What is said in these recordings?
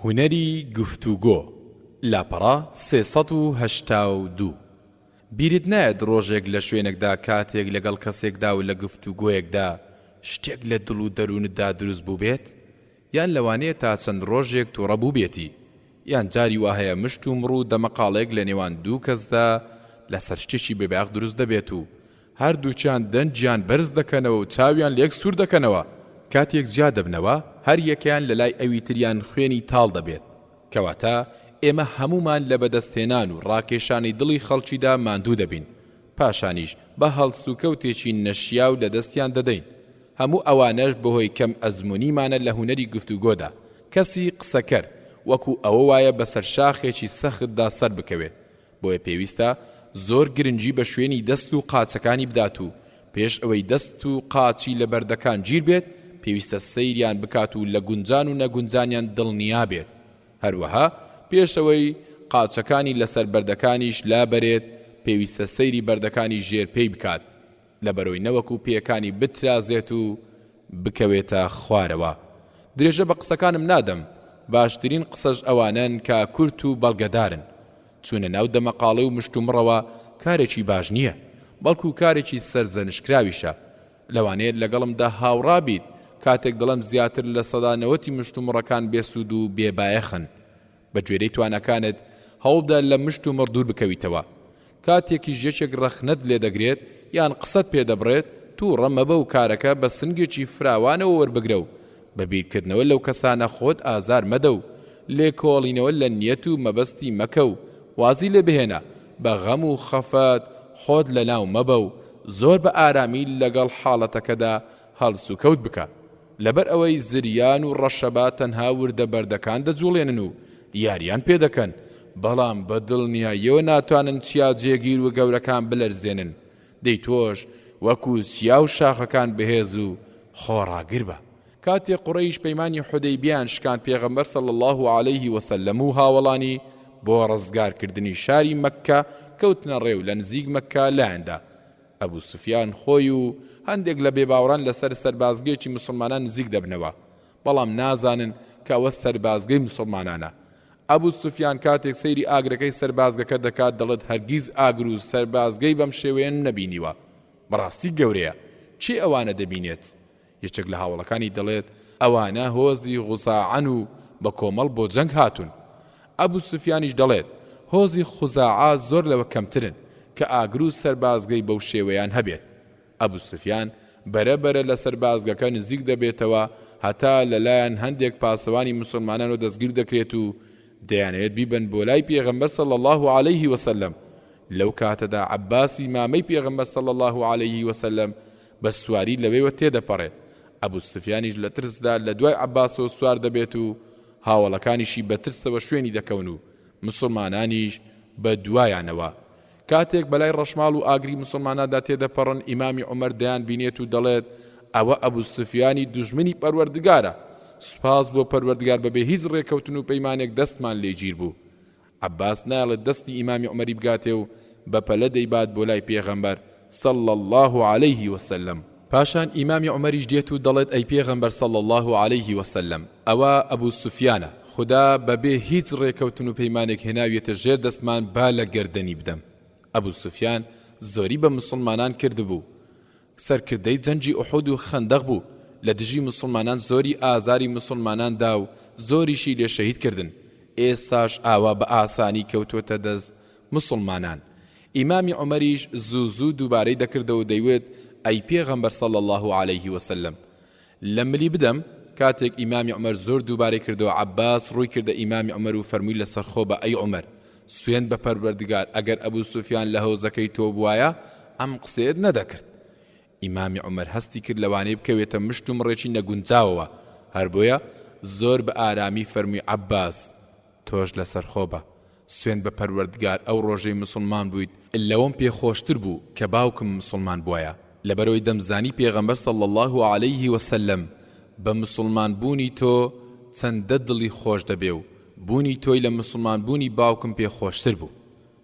هونەری گفتوگۆ، لاپەڕە سێ سەد و هەشتا و دوو. بیرت نایەت ڕۆژێک لە شوێنێکدا کاتێک لەگەڵ کەسێکدا و لە گفتوگۆیەکدا شتێک لە دڵ و دەروونتدا دروست بووبێت؟ یان لەوانەیە تا چەند ڕۆژێک توڕە بووبێتی؟ یان جاری وا هەیە مشتومڕ و دەمەقاڵێک لە نێوان دوو کەسدا لەسەر شتێکی بێبایەخ دروست دەبێت و هەردووکیان دەنگیان بەرز دەکەنەوە و چاویان لەیەک سوور دەکەنەوە، کاتێک جیا دەبنەوە هەریەکەیان لەلای ئەوی تریان خوێنی تاڵ دەبێت، کەواتە ئێمە هەموومان لە بەدەستهێنان و ڕاکێشانی دڵی خەڵکیدا ماندوو دەبین، پاشانیش بە هەڵسوکەوتێکی نەشیاو لەدەستیان دەدەین، هەموو ئەوانەش بەهۆی کەم ئەزموونیمانە لە هونەری گفتوگۆدا، کەسی قسەکەر وەکو ئەوە وایە بەسەر شاخێکی سەختدا سەربکەوێت، بۆیە پێویستە زۆر گرنگی بە شوێنی دەست و قاچەکانی بدات و پێش ئەوەی دەست و قاچی لە بەردەکان گیر بێت پێویستە سەیریان بکات و لە گونجان و نەگونجانیان دڵنیا بێت هەروەها پێش ئەوەی قاچەکانی لەسەر بەردەکانیش لابەرێت پێویستە سەیری بەردەکانی ژێر پێی بکات لەبەرۆی نەوەکو پێیەکانی بترازێت و بکەوێتە خوارەوە درێژە بە قسەکانم نادەم، باشترین قسەش ئەوانەن کە کورت و بەڵگەدارن، چوونە ناو دەمەقاڵێ و مشتومڕەوە کارێکی باش نییە، بەڵکو کارێکی سەرزەنشتکراویشە، لەوانەیە لەگەڵمدا هاوڕا بیت کاتێک دەڵێم زیاتر لە سەدا نەوەتی مشتومڕەکان بێسوود و بێبایەخن، بە گوێرەی تواناکانت هەوڵبدە لە مشت و مڕ دوور بکەویتەوە. کاتێکیش یەکێک ڕەخنەت لێ دەگرێت یان قسەت پێ دەبڕێت، تووڕە مەبە و کارەکە بە سنگێکی فراوانەوە وەربگرە و بە بیرکردنەوە لەو کەسانە خۆت ئازار مەدە و لێکۆڵینەوە لە نیەت و مەبەستی مەکە و وازی لێ بهێنە، بە غەم و خەفەت خۆت لەناو مەبە و زۆر بە ئارامی لەگەڵ حاڵەتەکەدا هەڵسوکەوت بکە، لەبەر ئەوەی زریان و ڕەشەبا تەنها وردە بەردەکان دەجوڵێنن و یاریان پێ دەکەن، بەڵام بە دڵنیاییەوە ناتوانن چیا جێگیر و گەورەکان بلەرزێنن، دەی تۆش وەکو چیا و شاخەکان بەهێز و خۆڕاگر بە. کاتێ قوڕەیش پەیمانی حودەیبیەیان شکاند پێغەمبەر صلی اللە علیە و سلم و هاوەڵانی بۆ ڕزگار کردنی شاری مەککە کەوتنە ڕێ و لە نزیک مەککە لایان دا، ئەبو سوفیان خۆی و هەندێک لە بێباوەڕان لەسەر سەربازگەیەکی موسڵمانان نزیک دەبنەوە، بەڵام نازانن کە ئەوە سەربازگەی موسڵمانانە. ئەبو سوفیان کاتێک سەیری ئاگرەکەی سەربازگەکە دەکات دەڵێت هەرگیز ئاگر و سەربازگەی بەم شێوەیەم نەبینیوە، بەڕاستی گەورەیە، کێ ئەوانە دەبینێت؟ یەکێک لە هاوەڵەکانی دەڵێت، ئەوانە هۆزی غوزاعەن و بە کۆمەڵ بۆ جەنگ هاتوون. ئەبو سوفیانیش دەڵێت، هۆزی خوزاعە زۆر لەوە کەمترن کە ئاگر و سەربازگەی بەو شێوەیان هەبێت. ئەبو سوفیان بەرە بەرە لە سەربازگەکە نزیک دەبێتەوە هەتا لە لایان هەندێک پاسەوانی موسڵمانانەوە دەستگیر دەکرێت و دەیانەوێت بیبەن بۆ لای پێغەمبەر صلی اللە علیه وسلم لەو کاتەدا عەباسی مامەی پێغەمبەر صلی اللە علیه وسلم بە سواری لەوێوە تێدەپەڕێت، ئەبوسفیانیش لە ترسدا لە دوای عەباسەوە سوار دەبێت و هاوەڵەکانیشی بە ترسەوە شوێنی دەکەون و موسڵمانانیش بە دوایانەوە. کاتێک بەلای ڕەشماڵ و ئاگری موسڵماناندا تێدەپەڕن ئیمامی عومەر دەیانبینێت و دەڵێت، ئەوە ئەبوسفیانی دوژمنی پەروەردگارە، سوپاس بۆ پەروەردگار بەبێ هیچ ڕێکەوتن و پەیمانێک دەستمان لێ گیربوو. عەباس نایەڵێت دەستی ئیمامی عومەری بگاتێ و بە پەلە دەیبات بۆ لای پێغەمبەر صلی اللە علیه وسلم، پاشان ئیمامی عومەریش دێت و دەڵێت ئەی پێغەمبەر صلی اللە علیه وسلم ئەوە ئەبو سوفیانە، خودا بە بێ هیچ ڕێکەوتن و پەیمانێک هێناویەتە ژێر دەستمان با لە گەردەنی بدەم، ئەبو سوفیان زۆری بە موسڵمانان کردبوو، سەرکردەی جەنگی ئوحود و خەندەق بوو لە دژی موسڵمانان زۆری ئازاری موسڵمانان دا و زۆریشی لێ شەهید کردن ئێستاش ئاوا بە ئاسانی کەوتۆتە دەست موسڵمانان ئیمامی عومەریش زوو زوو دووبارەی دەکردەوە دەیوت ئەی پێغەمبەر صلی اللە علیه وسلم لە ملی بدەم، کاتێک ئیمامی عومەر زۆر دووبارەی کردەوە عەباس ڕووی کردە ئیمامی عومەر و فەرمووی لەسەرخۆ بە ئەی عومەر سوێند بە پەروەردگار ئەگەر ئەبو سوفیان لە هۆزەکەی تۆ بوایە ئەم قسەیەت نەدەکرد ئیمامی عومەر هەستی کرد لەوانەیە بکەوێتە مشت و مڕێکی نەگونجاوەوە هەربۆیە زۆر بە ئارامی فەرمووی عەباس تۆش لەسەر خۆ بە. سوێند بە پەروەردگار ئەو ڕۆژەی موسڵمان بوویت لەوەم پێ خۆشتر بوو کە باوکم موسڵمان بوایە لەبەرەوەی دەمزانی پێغەمبەر صلی اللە علیە وسلم بە موسڵمان بوونی تۆ چەندە دڵی خۆش دەبێ و بوونی تۆی لە موسڵمان بوونی باوکم پێ خۆشتر بوو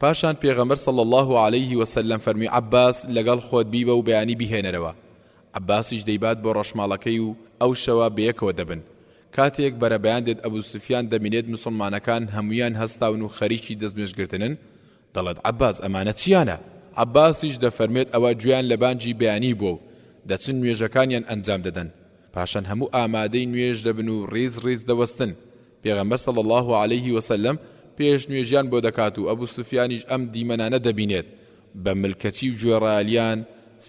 پاشان پێغەمبەر صلی اللە علیە و سلم فەرمووی عەباس لەگەڵ خۆت بیبە و بەیانی بیهێنەرەوە، عەباسیش دەیبات بۆ ڕەشماڵەکەی و ئەو شەوە بەیەکەوە دەبن، کاتێک بەرەبەیان دێت ئەبو سفیان دەبینێت موسڵمانەکان هەموویان هەستاون و خەریکی دەست نوێژ گرتنن، دەڵێت عەباس ئەمانە چیانە؟ عەباسیش دەفەرموێت ئەوە گوێیان لە بانگی بەیانی بووە و دەچن نوێژەکانیان ئەنجام دەدەن، پاشان هەموو ئامادەی نوێژ دەبن و ڕیز ڕیز دەوەستن، پێغەمبەر صلی اللە علیه وسلم پێش نوێژیان بۆ دەکات و ئەبو سفیانیش ئەم دیمەنانە دەبینێت بە ملکەچی و گوێڕایەلیان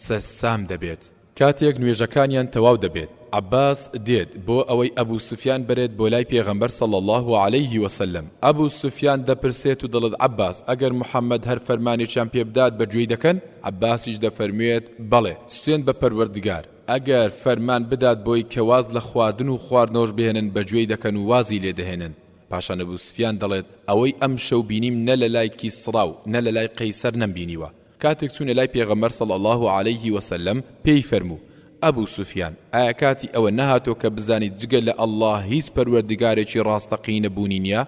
سەرسام دەبێت. کاتێک نوێژەکانیان تەواو دەبێت عەباس دێت بۆ ئەوەی ئەبو سفیان بەرێت بۆ لای پێغەمبەر صلی اللە علیه وسلم ئەبو سفیان دەپرسێت و دەڵێت عەباس ئەگەر محمد هەر فەرمانێکیان پێبدات بەگوێی دەکەن؟ عەباسیش دەفەرموێت بەڵێ سوێند بە پەروەردگار ئەگەر فەرمان بدات بۆی کە واز لە خواردن و خواردنەوەش بهێنن بە گوێی دەکەن و وازی لێ دەهێنن، پاشان ئەبو سفیان دەڵێت، ئەوەی ئەمشەو بینیم نە لە لای کیسڕا و نە لە لای قەیسەر نەمبینیوە، کاتێک چوونە لای پێغەمبەر صلی اللە علیه و سلم پێی فەرموو، ئەبو سفیان، ئایا کاتی ئەوە نەهاتووە کە بزانیت جگە لە اللە هیچ پەروەردگارێکی ڕاستەقینە بوونی نیە؟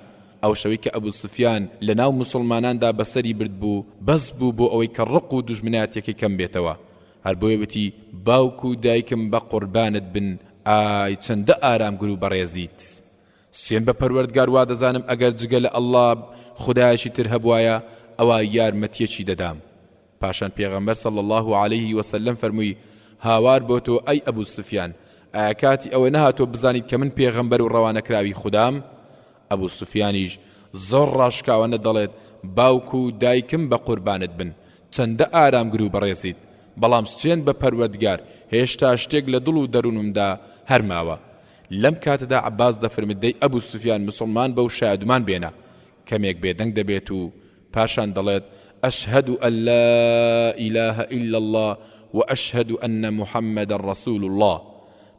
ئەو شەوەی کە ئەبو سفیان لە ناو موسڵماناندا بەسەری بردبوو، بەس بوو بۆ ئەوەی کە ڕق و دوژمنایەتیەکەی کەم بێتەوە، هەر بۆیە وتی باوک و دایکم بە قوربانت بن ئای چەندە ئارامگر و بەڕێزیت سوێن بە پەروەردگار وادەزانم ئەگەر جگە لە اللە خودایەکی تر هەبوایە ئەوا یارمەتیەکی دەدام پاشان پێغەمبەر صلی اللە علیه وسلم فەرمووی هاوار بۆ تۆ ئەی ابو سفیان ئایا کاتی ئەوە نەهاتووە بزانیت کە من پێغەمبەر و ڕەوانەکراوی خودام؟ ئەبو سوفیانیش زۆر ڕاشکاوانە دەڵێت، باوک و دایکم بە قوربانت بن، چەندە ئارامگر و بەڕێزیت، بەڵام سوێند بە پەروەردگار هێشتا شتێک لە دڵ و دەروونمدا هەر ماوە. لەم کاتەدا عەباس دەفرمت دەی ئەبو سوفیان مسوڵمان بە و شایەدمان بێنە. کەمێک بێدەنگ دەبێت و پاشان دەڵێت، اشهد ان لا اله الا اللە و اشهد ان محمدا رسول اللە.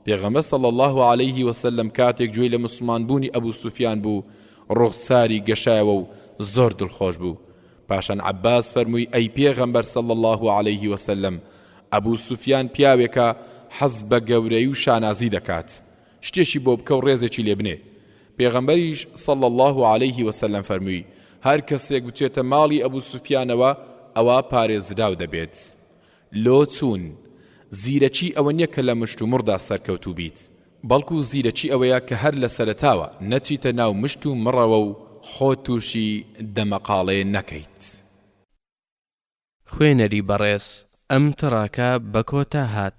پێغەمبەر صلی اللە علیە وسلم کاتێک گوێی لە موسڵمان بوونی ابو سفیان بوو ڕوخساری گەشایەوە و زۆر دڵخۆش بوو. پاشان عباس فەرمووی ئەی پێغەمبەر صلی اللە علیە وسلم ابو سفیان پیاوێکە حەز بە گەورەی و شانازی دەکات. شتێکی بۆ بکە و ڕێزێکی لێ بنێ، پێغەمبەریش، صلی اللە علیه وسلم، فەرمووی، هەر کەسێک بچێتە ماڵی ئەبو سوفیانەوە ئەوا پارێزراو دەبێت لۆ چوون، زیرەکی ئەوە نیە کە لە مشتومڕدا سەرکەوتوو بیت، بەڵکو زیرەکی ئەوەیە کە هەر لە سەرەتاوە نەچیتە ناو مشت و مڕەوە و خۆت تووشی دەمەقاڵێ نەکەیت. خوێنەری بەڕێز ئەم تڕاکە بە کۆتا هات.